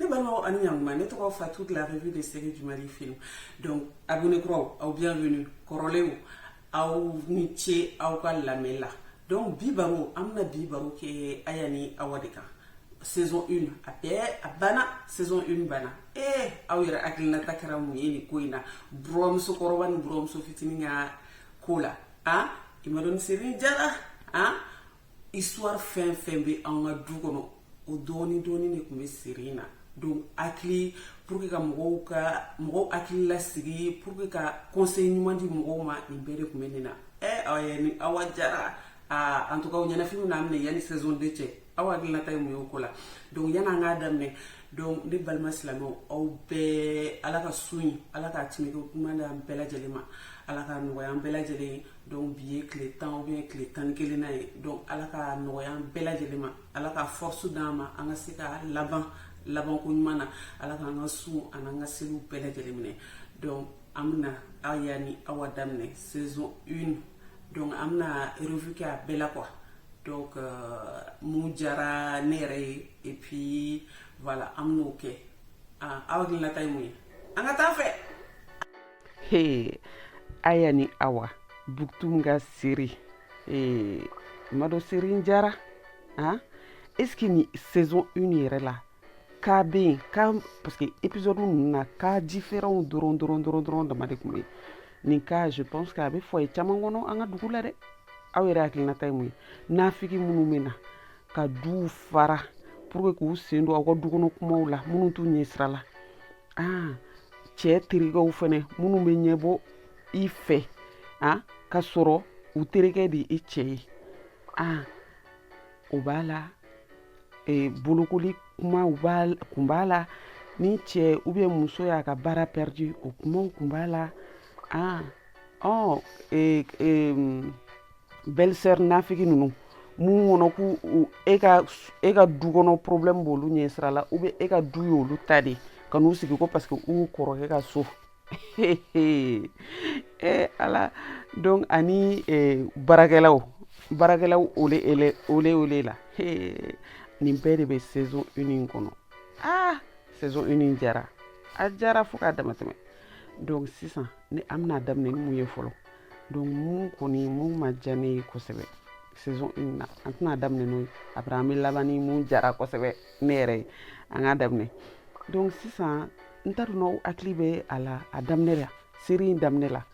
ne balimaw ani ɲakuma ne tɔgɔ fatu de la revue des séries du Mali film donc abonné kuraw aw bienvenue kɔrɔlenw aw ni ce aw ka lamɛn la donc bi baro an bɛna bi baro kɛ aya ni awa de kan saison 1 a bɛɛ a banna saison 1 banna ee aw yɛrɛ hakilinata kɛra mun ye nin ko in na buranmuso kɔrɔba ni buranmuso fitinin ka ko la a i ma dɔn seri in diyara a histoire fɛn fɛn bɛ an ka du kɔnɔ o dɔɔni dɔɔni de tun bɛ seri in na donc hakili pour que ka mɔgɔw ka mɔgɔw hakili lasigi pour que ka conseil ɲuman di mɔgɔw ma nin bɛɛ de tun bɛ nin na ɛ awa diyara a en tout cas o ɲɛnafin bɛn'an minɛ yanni saison 2 cɛ aw hakilinata ye mun y'o ko la donc yanni an k'a daminɛ donc ne balima silamɛw aw bɛɛ ala ka sun in ala k'a timike kuma d'an bɛɛ lajɛlen ma ala k'a nɔgɔya an bɛɛ lajɛlen ye donc bi ye tile tan ou bien tile tan ni kelennan ye donc ala k'a nɔgɔya an bɛɛ lajɛlen ma ala ka force d'an ma an ka se ka laban labanko ɲuman na ala k'an ka sun an'an ka seliw bɛɛ lajɛlen minɛ donc an bɛna aya ni awa daminɛ saison une donc an bɛna revue kɛ a bɛɛ la quoi donc euh, mun diyara ne yɛrɛ ye et puis voilà an bɛn'o kɛ ah, aw hakilinata ye mun ye an ka taa fɛ he aya ni awa buktum ka seri ee i ma dɔn seri in diyara ah, est ce que nin saison 1 yɛrɛ la cas bɛ yen cas parce que épisode ninnu na cas différents dɔrɔn dɔrɔn dɔrɔn dɔrɔn dama de tun bɛ yen nin cas je pense que a bɛ foyer caman kɔnɔ an ka dugu la dɛ aw yɛrɛ hakilinata ye mun ye nafigi minnu bɛ na ka duw fara pour que k'u sen don aw ka du kɔnɔ kumaw la minnu t'u ɲɛ sira la ah cɛ terikɛw fɛnɛ minnu bɛ ɲɛ bɔ i fɛ ah k'a sɔrɔ u terikɛ de ye e cɛ ye ah o b'a la e, bolokoli kumaw kun b'a la ni cɛ ou bien muso y'a ka baara perdu o kumaw kun b'a la ah, ɔ e, e, belle-sœur nafigi ninnu mun kɔnɔ ko e ka e ka du kɔnɔ problème b'olu ɲɛ sira la ou bien e ka du y'olu ta de ka n'u sigi ko parce que u kɔrɔkɛ ka so eh, ala donc ani eh, baarakɛlaw baarakɛlaw ole ele ole ole la eh, nin bɛɛ de bɛ saison une in kɔnɔ ah saison une in diyara a diyara fo k'a dama tɛmɛ donc sisan ne an bɛna daminɛ ni mun ye fɔlɔ donc mun kɔni mun ma diya ne ye kosɛbɛ saison une na an tɛna daminɛ n'o ye après an bɛ laban ni mun diyara kosɛbɛ ne yɛrɛ ye an k'a daminɛ donc sisan n t'a dɔn n'aw hakili bɛ a la a daminɛ la série in daminɛ la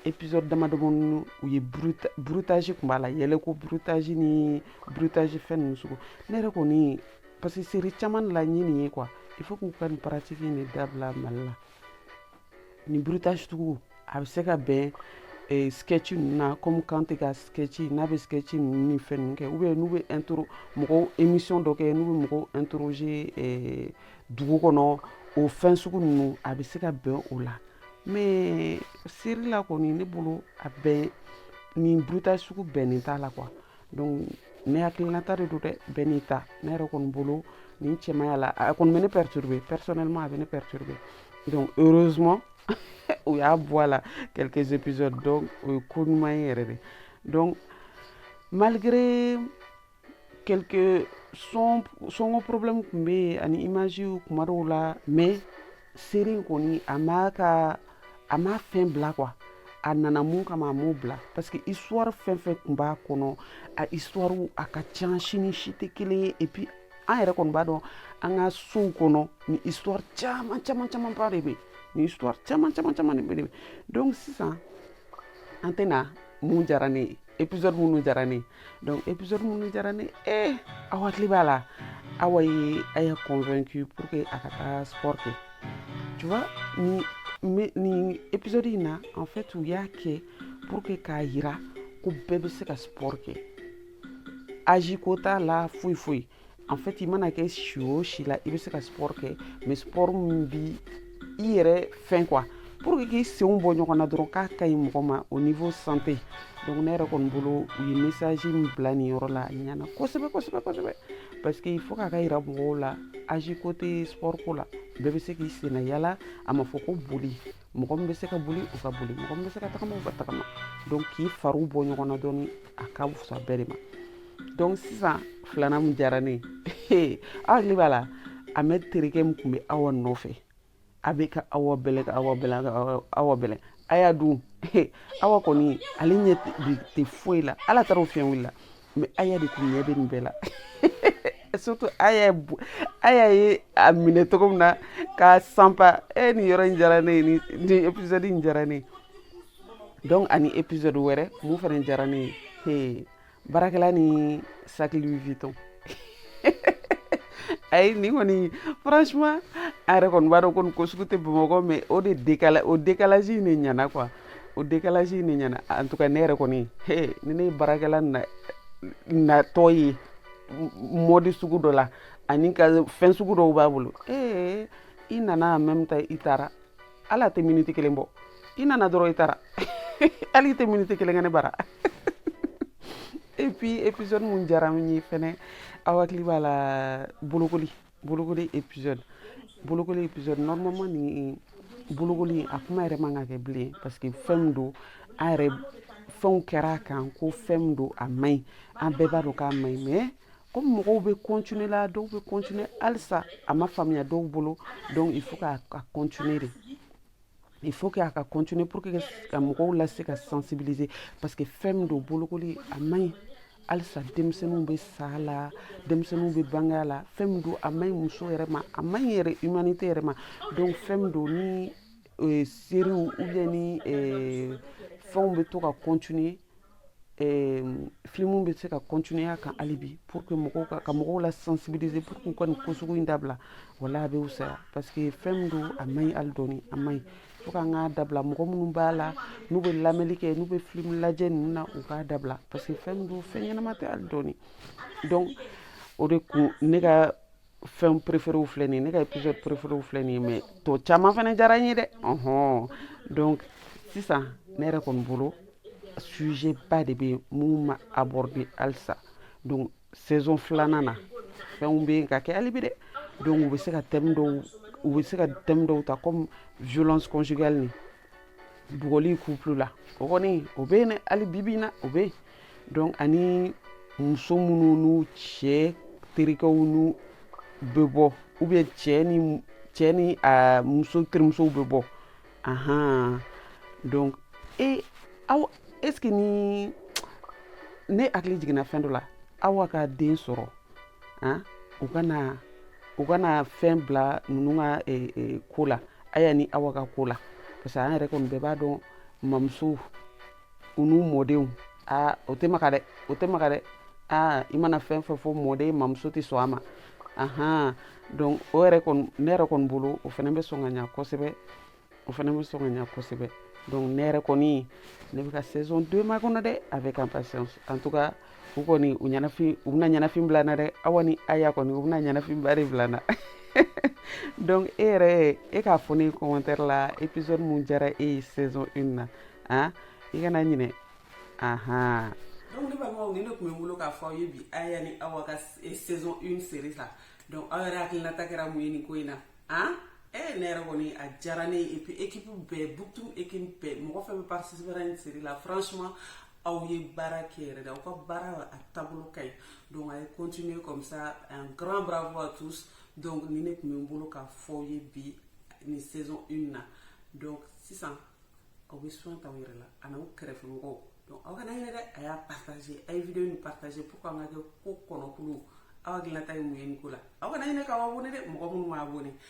épisode damadamani u ye bruitage kun b'a la yɛlɛko bruitage ni bruitage fɛn ninnu sugu ne yɛrɛ kɔni parce que série caman de la n ye nin ye quoi il faut k'u ka nin pratique in de dabila mali la nin bruitage sugu a bɛ se ka bɛn eh, sketch ninnu na comme Kanté ka sketch n'a bɛ sketch ninnu ni fɛn ninnu kɛ ou bien n'u bɛ intro mɔgɔw émission dɔ kɛ n'u bɛ mɔgɔw interroger eh, dugu kɔnɔ o fɛn sugu ninnu a bɛ se ka bɛn o la mais série la kɔni ne bolo a bɛn nin bruitage sugu bɛnnen t'a la quoi donc ne hakilinata de don dɛ bɛɛ n'i ta ne yɛrɛ kɔni bolo nin cɛ man ɲi a la a kɔni bɛ ne perturber personnellement a bɛ ne perturber donc heureusement u y'a bɔ a la quelques épisodes donc o ye ko ɲuman ye yɛrɛ de donc malgré quelques son sonko problème tun bɛ yen ani image kuma dɔw la mais série in kɔni a m'a ka a m'a fɛn bila quoi a nana mun kama a m'o bila parce que histoire fɛn fɛn tun b'a kɔnɔ a histoire a ka ca si ni si tɛ kelen ye et puis an yɛrɛ kɔni b'a dɔn an ka sow kɔnɔ ni histoire caman caman caman ba de bɛ ni histoire caman caman caman de bɛ donc sisan an tɛ na mun diyara ne ye épisode minnu diyara ne donc épisode minnu diyara ne ye eh, aw hakili b'a la awa ye Aya convaincu pour que a ka taa sport kɛ tu vois ni mais nin épisode in na en fait u y'a kɛ pour que k'a yira ko bɛɛ bɛ se ka sport kɛ âge ko t'a la foyi foyi en fait i mana kɛ si o si la i bɛ se ka sport kɛ mais sport min bi i yɛrɛ fɛn quoi pour que k'i senw bɔ ɲɔgɔn na dɔrɔn k'a ka ɲi mɔgɔ ma au niveau santé donc ne yɛrɛ kɔni bolo u ye message min bila nin yɔrɔ la a ɲɛna kosɛbɛ kosɛbɛ kosɛbɛ parce que faut k'a ka yira mɔgɔw la âge ko tɛ sport ko la bɛɛ bɛ se k'i senna yala a ma fɔ ko boli mɔgɔ min bɛ se ka boli u ka boli mɔgɔ min bɛ se ka tagama u ka tagama donc k'i fariw bɔ ɲɔgɔn na dɔɔni a ka fusa bɛɛ de ma donc sisan filanan min diyara ne ye aw hakili b'a la Ahmed terikɛ min tun bɛ awa nɔfɛ a bɛ ka awa bɛlɛ ka awa bɛlɛ ka awa bɛlɛ Aya dun awa kɔni ale ɲɛ tɛ foyi la ala taara o fiɲɛ wulila mais Aya de tun ɲɛ bɛ nin bɛɛ la surtout Aya Aya ye a minɛ cogo min na k'a sanpa e nin yɔrɔ in diyara ne ye nin épisode in diyara ne ye donc ani épisode wɛrɛ mun fana diyara ne ye he baarakɛla ni sac Louis Vuitton ayi nin kɔni franchement a yɛrɛ kɔni b'a dɔn ko nin ko sugu tɛ bamakɔ mais o de décalage o décalage in de ɲana quoi o décalage in de ɲɛna en tout cas ne yɛrɛ kɔni he ni ne ye baarakɛla natɔ ye mode sugu dɔ la ani ka fɛn sugu dɔw b'a bolo ee i nana en même temps i taara hali a tɛ miniti kelen bɔ i nana dɔrɔn i taara hali i tɛ miniti kelen kɛ ne bara et puis épisode mun diyara n ye fɛnɛ aw hakili b'a la bolokoli bolokoli épisode bolokoli épisode normalement nin bolokoli a kuma yɛrɛ man ka kɛ bilen parce que fɛn min don a yɛrɛ fɛnw kɛra a kan ko fɛn min don a man ɲi an bɛɛ b'a dɔn k'a man ɲi mais comme mɔgɔw bɛ continuer la dɔw bɛ continuer halisa a ma faamuya dɔw bolo donc il faut k'a continuer de il faut que a ka continuer pour que ka mɔgɔw lase ka sensibiliser parce que fɛn min don bolokoli a man ɲi halisa denmisɛnninw bɛ sa a la denmisɛnninw bɛ bange a la fɛn min don a man ɲi muso yɛrɛ ma a man ɲi yɛrɛ humanité yɛrɛ ma donc fɛn min don ni euh, séries ou bien ni euh, fɛnw bɛ to ka continuer Eh, filimu bɛ se ka continuer a kan hali bi pour que mɔgɔw ka ka mɔgɔw la sensibiliser pour que u ka nin ko sugu in dabila wala a bɛ wusaya parce que fɛn min don a man ɲi hali dɔɔni a man ɲi fo k'an k'a dabila mɔgɔ minnu b'a la n'u bɛ lamɛnni kɛ n'u bɛ filimu lajɛ ninnu na u k'a dabila parce que fɛn min don fɛn ɲɛnama tɛ hali dɔɔni donc o de kun ne ka fɛn préféréw filɛ nin ye ne ka épisode préféréw filɛ nin ye mais tɔ caman fana diyara n ye dɛ ɔhɔn donc sisan ne yɛrɛ kɔni bolo sujet ba de bɛ mun ma aborder halisa donc saison filanan na fɛnw bɛ yen ka kɛ hali bi dɛ donc u bɛ se ka thème dɔw u bɛ se ka thème dɔw ta comme violence conjugale ni bugɔli couple la o kɔni o bɛ yen dɛ hali bibi in na o bɛ yen donc ani muso minnu n'u cɛ terikɛw n'u bɛ bɔ ou bien cɛ ni cɛ ni a muso terimusow bɛ bɔ ahan donc e aw est ce que ni ne hakili jiginna fɛn dɔ la Awa ka den sɔrɔ han u kana u kana fɛn bila ninnu ka ko la Aya ni Awa ka ko la parce que an yɛrɛ kɔni bɛɛ b'a dɔn mamusow n'u mɔdenw a o tɛ maka dɛ o tɛ maka dɛ a i mana fɛn fɛn fɔ mɔden mamuso tɛ sɔn a ma ahan donc o yɛrɛ kɔni ne yɛrɛ kɔni bolo o fana bɛ sɔn ka ɲa kosɛbɛ o fana bɛ sɔn ka ɲa kosɛbɛ donc ne yɛrɛ kɔni ne bɛ ka saison deux makɔnɔ dɛ avec impatience en tout cas u kɔni u ɲɛnafin u bɛna ɲɛnafin bila n na dɛ awa ni aya kɔni u bɛna ɲɛnafin ba de bila n na donc e yɛrɛ e k'a fɔ ne commentaire la épisode mun diyara e ye saison 1 na i kana ɲinɛ ahan donc ne balimaw nin de tun bɛ n bolo k'a fɔ aw ye bi aya ni awa ka saison 1 série la donc aw yɛrɛ hakilinata kɛra mun ye nin ko in na an e ne yɛrɛ kɔni a diyara ne ye et puis équipe bɛɛ butu équipe bɛɛ mɔgɔ fɛn bɛ participer nin série la franchement aw ye baara kɛ yɛrɛ de aw ka baara a taabolo ka ɲi donc a ye continuer comme ça un grand bravo à tous donc nin de tun bɛ n bolo k'a fɔ aw ye bi nin saison une na donc sisan aw bɛ soin ta aw yɛrɛ la ani aw kɛrɛfɛmɔgɔw donc aw kana ɲinɛ dɛ a y'a partager a ye video nin partager pour que an ka kɛ ko kɔnɔkulu aw hakilinata ye mun ye nin ko la aw kana ɲinɛ k'aw abonner dɛ mɔgɔ minnu ma abonner